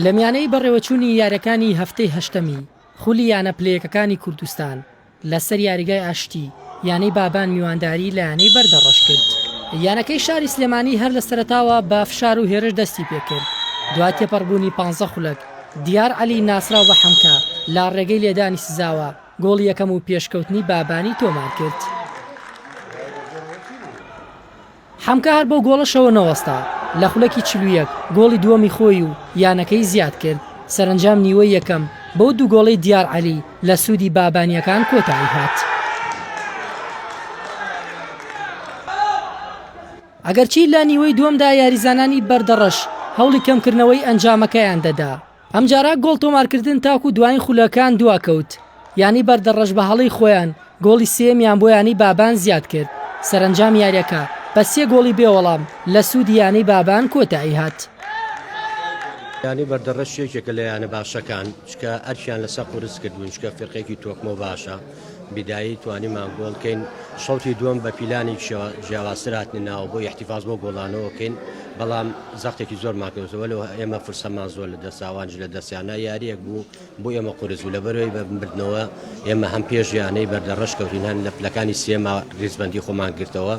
لەمیانەی بەڕێوەچوونی یاریەکانی هەفتەی هەشتەمی خولی یانە پلەیەکەکانی کوردستان لەسەر یاریگای ئاشتی یانەی بابان میوانداری لە یانەی بەردە ڕەشکرد یانەکەی شاری سلێمانی هەر لە سەرتاوە بە فشار و هێرش دەستی پێکرد دوای تێپەڕبوونی پ خولەک دیار عەلی ناسراو بە حەمکە لا ڕێگەی لێدانی سزاوە گۆڵی یەکەم و پێشکەوتنی بابانی تۆمار کرد. حەمکا هەر بەو گۆڵەشەوە نەوەستا، لە خولەکی چل و یەک گۆڵی دووەمی خۆی و یانەکەی زیاد کرد، سەرەنجام نیوەی یەکەم بەو دوو گۆڵەی دیار عەلی لە سوودی بابانییەکان کۆتایی هات. ئەگەرچی لە نیوەی دووەمدا یاریزانانی بەردەڕەش هەوڵی کەمکردنەوەی ئەنجامەکەیان دەدا، ئەمجارە گۆڵ تۆمارکردن تاکو دوایین خولەکان دواکەوت، یانەی بەردەڕەش بە هەڵەی خۆیان گۆڵی سێیەمیان بۆ یانەی بابان زیادکرد، سەرەنجام یاریەکە بە سێ گۆڵی بێوەڵام لە سوودی یانەی بابان کۆتاییهات. یانەی بەردەڕەش یەکێکە لە یانە باشەکان، چکە ئەرکیان لەسەر قورس کردوون، چکە فیرقەیەکی تۆکمە و باشە. بدائی توانیمان گۆڵ کەین شەوتی دووەم بە پیلانی جیاوازتر هاتنە ناوە بۆ یحتیفاز بۆ گۆڵانەوە کەین بەڵام زەختێکی زۆرمان کردەوە لەوە ئێمە فرسەمان زۆر لە دەساوانج لە دەستیانە یاریەک بوو بۆ ئێمە قورس و لە بەرەوەی بە بردنەوە ئێمە هەم پێش یانەی بەردەڕەش کەوتین هەن لە پلەکانی سێما ریزبندی خۆمان گرتەوە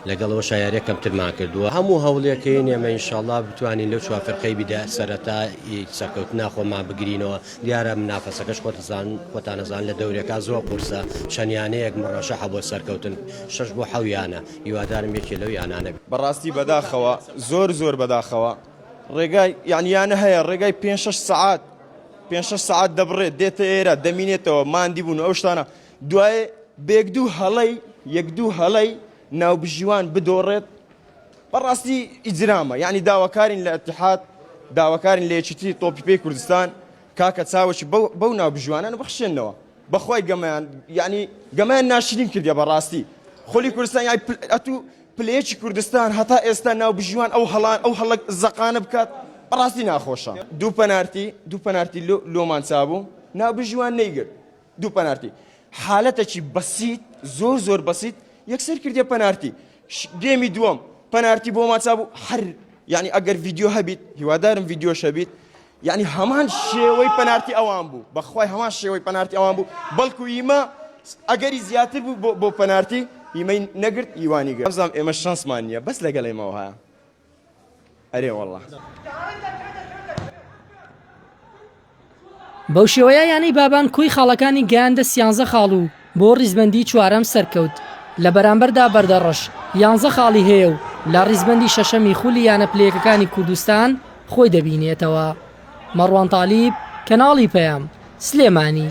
لەگەڵەوە شاعرە کەمترمان کردووە هەموو هەوڵێکەکەی نێمە ئینشاالله بتوانین لەو چوافرقەی بیدا سەرەتا سەرکەوتنا خۆمان بگرینەوە دیارە منافەسەکەش خۆتزان خۆتانەزان لە دەورێکا زۆر قورسە چەند یانەیەک مڕەشەحە بۆ سەرکەوتن شەش بۆ حەو یانە هیوادارم یەکێ لەو یانانە بێ. بەڕاستی بەداخەوە زۆر زۆر بەداخەوە ڕێگای یان یانە هەیە ڕێگای پێنج شەش سەعات پێنج شەش سەعات دەبڕێت دێتە ئێرە دەمینێتەوە ماندی بوون و ئەو شتانە دوایێ بێک دوو هەڵەی یەک دوو هەڵەی ناوبژیوان بدۆڕێت بەڕاستی ئیجرامە یعنی داواکارین لە اتحاد داواکارین لە یەکیتی تۆپی پێی کوردستان کاکە چاوەکی بەو ناو بژوانان بخشێنەوە بەخوای گەمەیان یعنی گەمەیان ناشرین کردە بەڕاستی خۆلی کوردستان یای ئەتو پلەیەکی کوردستان هەتا ئێستا ناو بژوان ئەو هەڵان ئەو هەڵک زەقانە بکات بەڕاستی ناخۆشە دوو پەنارتی دوو پەنارتی لۆمان چابوو ناو بژوان نەیگرت دوو پەنارتی حالەتەکی بەسیت زۆر زۆر بەسیت یەکسەر کردێ پەنارتی گێمی دووەم پەنارتی بۆ ماچا بوو هەر یعنی ئەگەر ڤیددیو هەبیت هیوادارم ڤیددیو شەبیت یعنی هەمان شێوەی پەنارتی ئەوان بوو بەخوای هەمان شێوەی پەنارتی ئەوان بوو بەڵکو ئیمە ئەگەری زیاتر بوو بۆ پەنارتی ئیمەی نەگرت ئیوانی گەزام ئێمە شانسمان نییە بەس لەگەڵ ئێمەوە هەیە ئەرێ وەڵا. بەوشێوەیە یانەی بابان کۆی خاڵەکانی گەیاندە سیانزە خاڵ و بۆ ڕیزبەندی چوارەم سەرکەوت، لە بەرامبەردا بەردەڕەش یانزە خاڵی هەیە و لە ڕیزبەندی شەشەمی خولی یانە پلەیەکەکانی کوردستان خۆی دەبینێتەوە. مەڕوان تالیب، کەناڵی پەیام، سلێمانی.